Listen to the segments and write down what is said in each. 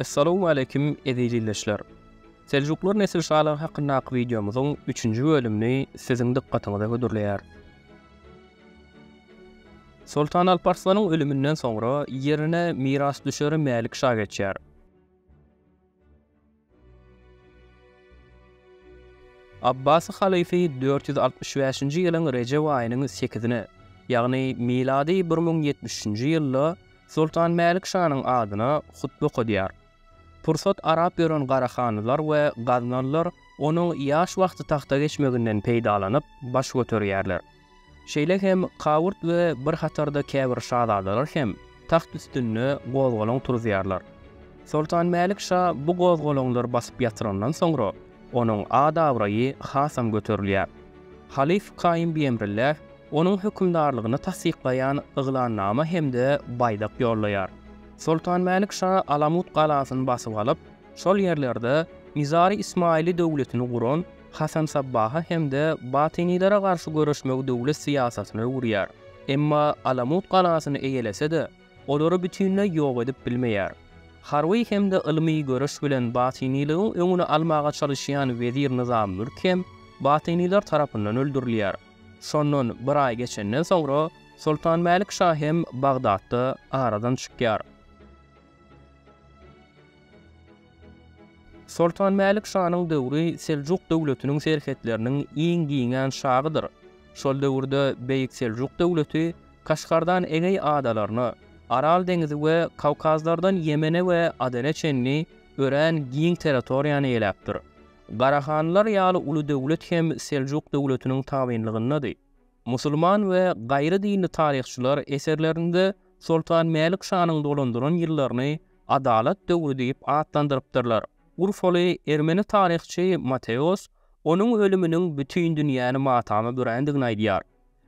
Essalawmaleýkim eziz ildeşler! Seljuklar nesil şalygy hakyndaky wideomyzyň üçünji bölümini siziň dykgatyňyza hödürleýäris. Soltan Alparslanyň ölüminden soňra ýerine mirasdüşeri Mälik şa geçýär. Abbasy halyfy dört ýüz altmyş bäşinji ýylyň Rejep aýynyň sekizine, ýagny milady bir müň ýetmiş üçünji ýylda Soltan Mälik şanyň adyna hutbe okadýar. Pursat arap gören garahanlylar we gaznalylar onuň ýaş wagty tagta geçmeginden peýdalanyp, baş göterýärler. Şeýle hem Kaurt we bir hatarda käbir şazadalar hem tagt üstünde gozgalaň turuzýarlar. Soltan Mälik şa bu gozgalaňlary basyp ýatyrandan soňra, onuň at-abraýy hasam göterilýär. Halyf Kaýym Biemrilläh onuň hökümdarlygyny tassyklaýan ýyglannama hem-de baýdak ýollaýar. Soltan Mälik şa Alamut galasyny basyp alyp, şol ýerlerde Nizari-Ismaili döwletini guran, Hasan Sabbaha hem-de batynilere garşy göreşmegi döwlet syýasatyna öwürýär. Emma Alamut galasyny eýelese-de, olary bütinleý ýok edip bilmeýär. Harby hem-de ylmy göreş bilen batynylygyň öňüni almaga çalyşýan wezir Nyzam Mülk hem batynylar tarapyndan öldürilýär. Şondan bir aý geçenden soňra Soltan Mälik şa hem Bagdatda aradan çykýar. Soltan Mälik şanyň döwri Seljuk döwletiniň serhetleriniň iň giňän şagydyr. Şol döwürde Beýik Seljuk döwleti Kaşgardan Egeý adalaryna, Aral deňizi we Kawkazlardan Ýemene we Adene çenli örän giň territoriýany eýeläpdir. Garahanlylar ýaly uly döwlet hem Seljuk döwletiniň tabynlygyndady. Musulman we gaýry dinli taryhçylar eserlerinde Soltan Mälik şanyň dolandyran ýyllaryny Adalat döwri diýip atlandyrypdyrlar. Urfaly ermeni taryhçy Mateos onuň ölüminiň bütin dünýäni matama bürändigini aýdýar.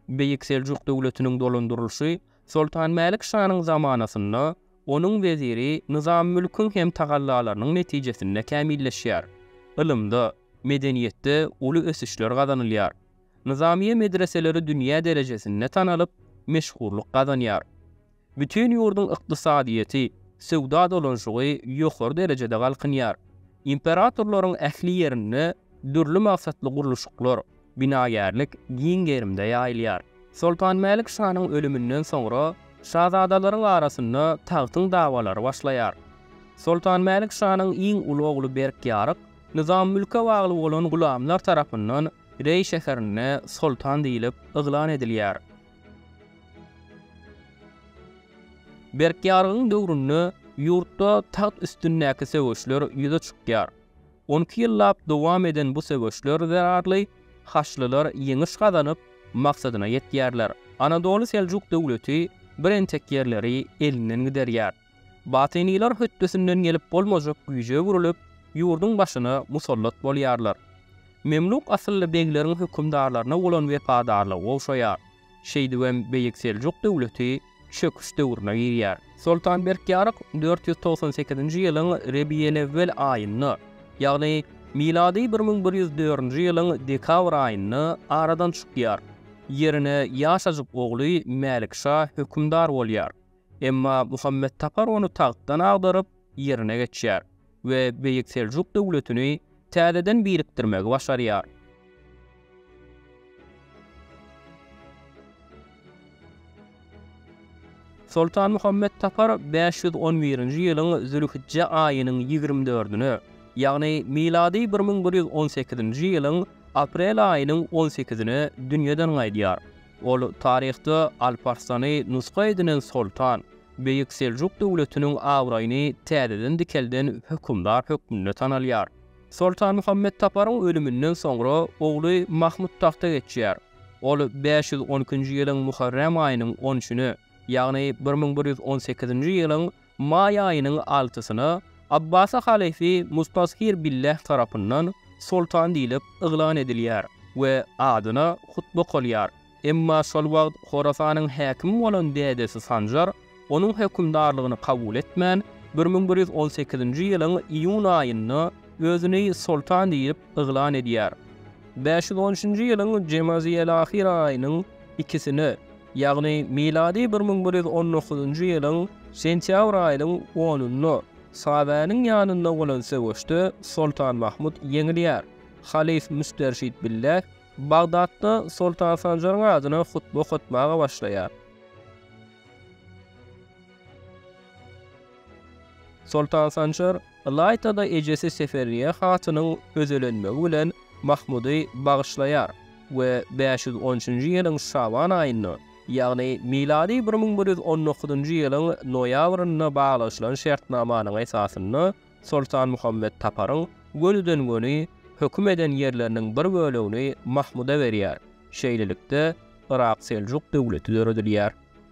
Beýik Seljuk döwletiniň dolandyrylyşy Soltan Mälik şanyň zamanasynda onuň weziri Nyzamymülküň hem tagallalarynyň netijesinde kämilleşýär. Ylymda, medeniýetde uly ösüşler gazanylýar. Nyzamyýe medreseleri dünýä derejesinde tanalyp, meşhurlyk gazanýar. Bütin ýurduň ykdysadyýeti, söwda dolanşygy ýokary derejede galkynýar. Imperatorlaryň ähli ýerinde dürli maksatly gurluşyklar, binagärlik giň gerimde ýaýylýar. Soltan Mälik şanyň ölüminden soňra şazadalaryň arasynda tagtyň dawalary başlaýar. Soltan Mälik şanyň iň uly ogly Berkýaryk Nyzam mülke bagly bolan gulamlar tarapyndan Reý şäherinde soltan diýlip yglan edilýär. Berkýargyň döwründe ýurtda tagt üstündäki söweşler ýüze çykýar. On iki ýyllap dowam eden bu söweşler zerarly haçlylar ýeňiş gazanyp, maksadyna ýetýärler. Anadoly Seljuk döwleti bir entek ýerleri elinden giderýär. Batynylar hötdesinden gelip bolmajak güýje öwrülip, ýurduň başyna musallat bolýarlar. Memluk asylly begleriň hökümdarlaryna bolan wepadarlygy gowşaýar. Şeýdibem Beýik Seljuk döwleti çöküş döwrüne girýär. Soltan Berkýaryk dört ýüz togsan sekizinji ýylyň Rebiýelewwel aýynda, ýagny milady bir müň bir ýüz dördünji ýylyň dekabr aýynda aradan çykýar. Ýerine ýaşajyk ogly Mälikşa hökümdar bolýar. Emma Muhammet Tapar ony tagtdan agdaryp, ýerine geçýär we Beýik Seljuk döwletini täzeden birikdirmegi başarýar. Soltan Muhammet Tapar bäş ýüz on birinji ýylyň zülhijje aýynyň ýigrimi dördüne, ýagny milady bir müň bir ýüz on sekizinji ýylyň aprel aýynyň on sekizine dünýeden gaýdýar. Ol taryhda Alp Arslany nusga edinen soltan, Beýik Seljuk döwletiniň abraýyny täzeden dikelden hökümdar hökmünde tanalýar. Soltan Muhammet Taparyň ölüminden soňra ogly Mahmut tagta geçýär. Ol bäş ýüz on ikinji ýylyň Muharrem aýynyň on üçüne, ýagny bir müň bir ýüz on sekizinji ýylyň Maý aýynyň altysyna Abbasy halyfy Mustazhir Billah tarapyndan soltan diýlip yglan edilýär we adyna hutba okalýar. Emma şol wagt Horasanyň häkimi bolan dädesi Sanjar onuň hökümdarlygyny kabul etmän, bir müň bir ýüz on sekizinji ýylyň iýun aýynda özüni soltan diýip yglan edýär. Bäş ýüz on üçünji ýylyň Jemazyýelahyr aýynyň ikisine, ýagny milady bir müň bir ýüz on dokuzynjy ýylyň sentýabr aýynyň onunda Sabäniň ýanynda bolan söweşde Soltan Mahmut ýeňilýär. Halyf Müsterşit Billäh Bagdatda Soltan Sanjaryň adyna hutbe okatmaga başlaýar. Soltan Sanjar Ylaýta-da ejesi Seferriýe hatynyň özelenmegi bilen Mahmudy bagyşlaýar we bäş ýüz on üçünji ýylyň şaban aýynda, ýagny milady bir müň bir ýüz on dokuzynjy ýylyň noýabrynda baglaşylan şertnamanyň esasynda Soltan Muhammet Taparyň gönüden-göni höküm eden ýerleriniň bir bölegini Mahmuda berýär. Şeýlelikde, Yrak-Seljuk döwleti döredilýär.